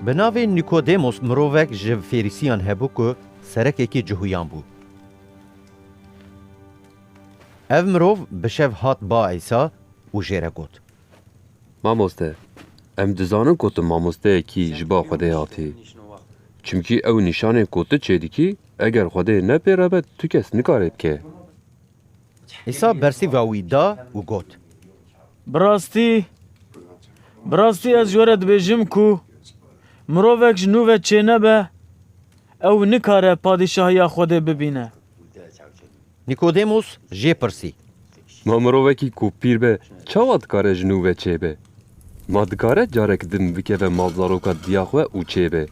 Bi navê Nîkodêmos mirovek ji Fêrîsiyan hebû ku serekekî cihuyan bû. Ev mirov bi şev hat ba Îsa û jê re got. Mamoste, em dizanin ku tu mamosteyekî ji ba Xwedê hatî. Çimkî ew nîşanên ku tu çêdikî eger Xwedê ne pê re be tu kes nikare bike. Îsa bersîva wî da û got. Bi rastî, bi rastî ez ji we re dibêjim ku mirovek ji nû ve çênebe, ew nikare padîşahiya Xwedê bibîne. Nîkodêmos jê pirsî. Ma mirovekî ku pîr be çawa dikare ji nû ve çêbe? Ma dikare carek din bikeve malzaroka diya xwe û çêbe?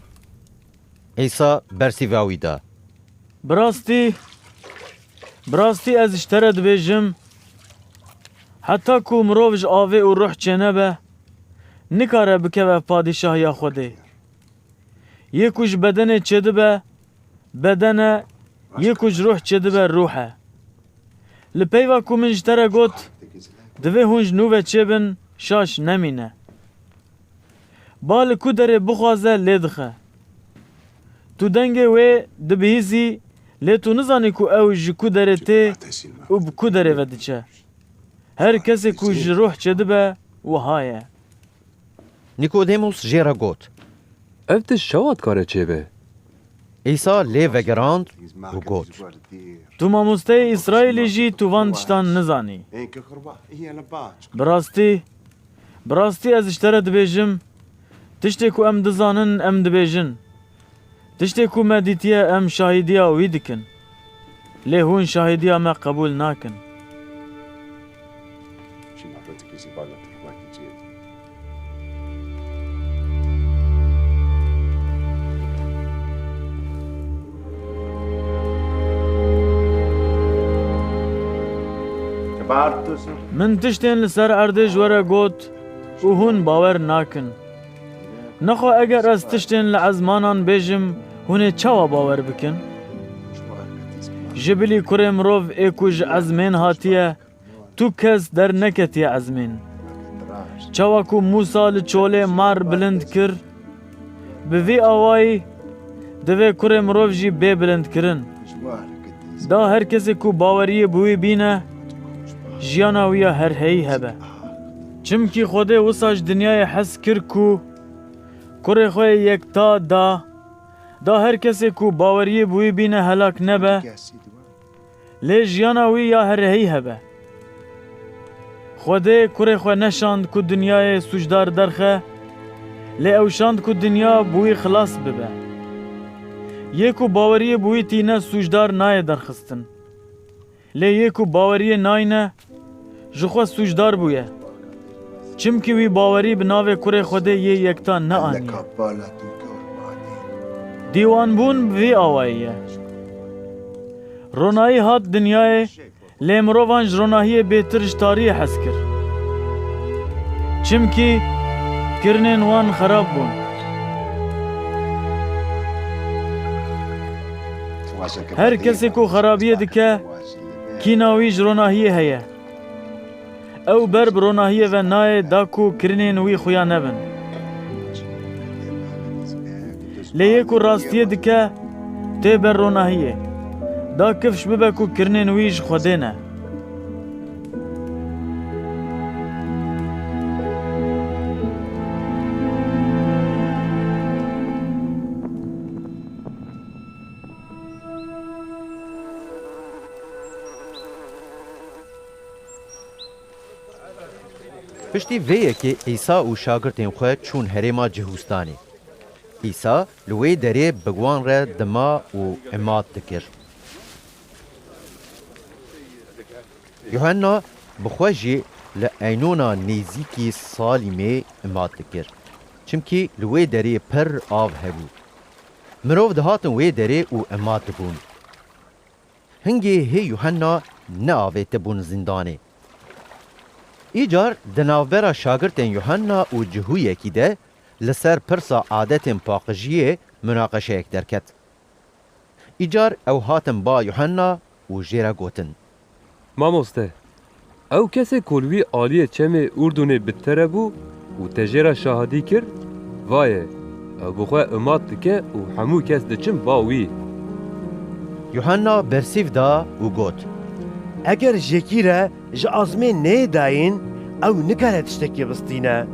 Îsa bersî va wî da. Bi rastî, bi rastî ez ji te re dibêjim, heta ku mirov ji avê û ruh çênebe, nikare bikeve padîşahiya Xwedê. Yê ku ji bedenê çêdibe, beden e, yê ku ji ruh çêdibe, ruh e. Li peyva ku min ji te re got, divê hûn ji nû ve çêbin, şaş nemîne. Ba li ku derê bixwaze lê dixe. Tu dengê wê dibihîzî lê tu nizanî ku ew ji ku derê tê û bi ku derê ve diçe. Her kesê ku ji ruh çêdibe wiha ye. Nîkodêmos jê re got. Ev tişt çawa dikare çêbe? Îsa lê vegirand û got. Tu mamosteyê Îsraîlî jî tu van tiştan nizanî? Bi rastî. Bi rastî ez ji te re dibêjim, tiştê ku em dizanin em dibêjin, tiştê ku me dîtiye em şahîdiya wî dikin, lê hûn şahîdiya me qebûl nakin. Min tiştên li ser erdê ji we re got û hûn bawer nakin. Nexwe eger ez tiştên li ezmanan bêjim hûn ê çawa bawer bikin? Ji bilî kurê mirov ê ku ji ezmên hatiye Tu kes derneketiye ezmên. Çawa ku Mûsa li çolê mar bilind kir, bi vî awayî divê kurê mirov jî bê bilindkirin. Da her kesê ku baweriyê bi wî bîne, jiyana wî ya herheyî hebe. Çimkî Xwedê wisa ji dinyayê hez kir ku kurê xwe yê yekta da, da her kesê ku baweriyê bi wî bîne helak nebe. Lê jiyana wî ya herehî hebe. Xwedê kurê xwe neşand ku dinyayê sûcdar derxe, lê ew şand ku dinya bi wî xilas bibe. Yê ku baweriyê bi wî tîne sûcdar nayê derxistin. Lê yê ku baweriyê nayne ji xwe sûcdar bûye. Çimkî wî bawerî bi navê kurê Xwedê yê yektan neaniye. Dîwanbûn bi vî awayî ye. Ronahî hat dinyayê lê mirovan ji ronahiyê bêtir ji tariyê hez kir. Çimkî kirinên wan xerab bûn. Her kesê ku xerabiyê dike Kîna wî ji ronahiyê heye. Ew ber bi ronahiyê ve nayê da ku kirinên wî xuya nebin. Lê yê ku rastiyê dike tê ber ronahiyê. Da kifş bibe ku kirinên wî ji Xwedê ne. Piştî vê yekê Îsa û şagirtên xwe çûn herêma Cihûstanê. Îsa li wê derê bi wan re dima û imat dikir. Yuhenna bi xwe jî li Eynûna nêzîkî Salîmê imat dikir, çimkî li wê derê pir av hebû. Mirov dihatin wê derê û ima dibûn. Hingê hê Yuhenna neavêtibûn zîndanê. Îcar di navbera şagirtên Yuhenna û cihûyekî de li ser pirsa adetên paqijiyê munaqeşeyek derket. Îcar ew hatin ba Yuhenna û jê re gotin. Mamoste, ew kesê ku li wî aliyê çemê Urdunê bi tere bû û te jê re şahidî kir, va ye, ew bi xwe imat dike û hemû kes diçin ba wî. Yuhanna bersîv da û got, Eger jêkî re ji azmên nê dayîn, ew nikare tiştekî bistîne.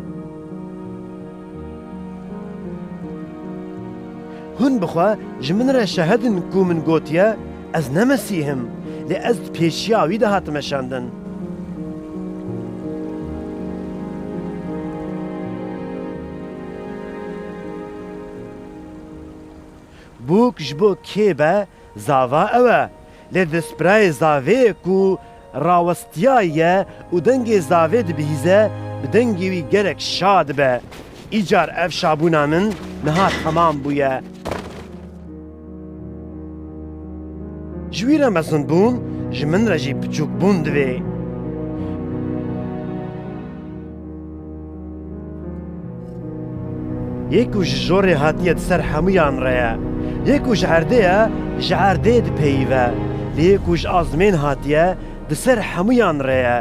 Hûn bi xwe ji min re şahid in ku min gotiye, Ez ne Mesîh im, lê ez di pêşiya wî de hatime şandin. Bûk ji bo kê be, zava ew e, lê di spirayê zavê ku Rawestiyayî ye û dengê zavê dibihîze, bi dengê wî gelek şa dibe. Îcar ev şabûna min niha temam bûye. Ji wî re mezinbûn, ji min re jî piçûkbûn divê. Yê ku ji jorê hatiye di ser hemûyan re ye, yê ku ji erdê ye ji erdê dipeyive, lê yê ku ji azmên hatiye di ser hemûyan re ye.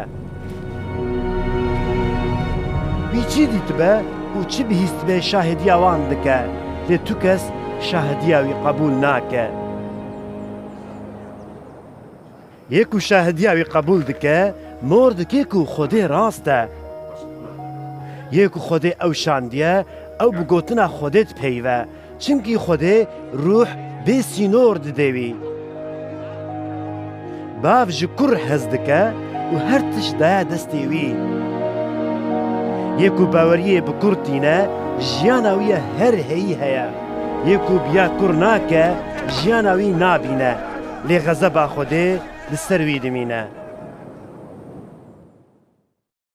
Wî çi dîtibe û çi bihîstibe şahidiya wan dike, lê tu kes şahidiya wî qebûl nake. Yê ku şahidiya wî qebûl dike, mor dike ku Xwedê rast e. Yê ku Xwedê ew şandiye, ew bi gotina Xwedê dipeyive. Çimkî Xwedê rûh bê sînor didê wî. Bav ji kur hez dike û her tişt daye destê wî. Yê ku baweriyê bi kur tîne, jiyana wî ya her heyî heye. Yê ku biya kur nake, jiyana wî nabîne. Lê xezeba Xwedê li ser wî dimîne.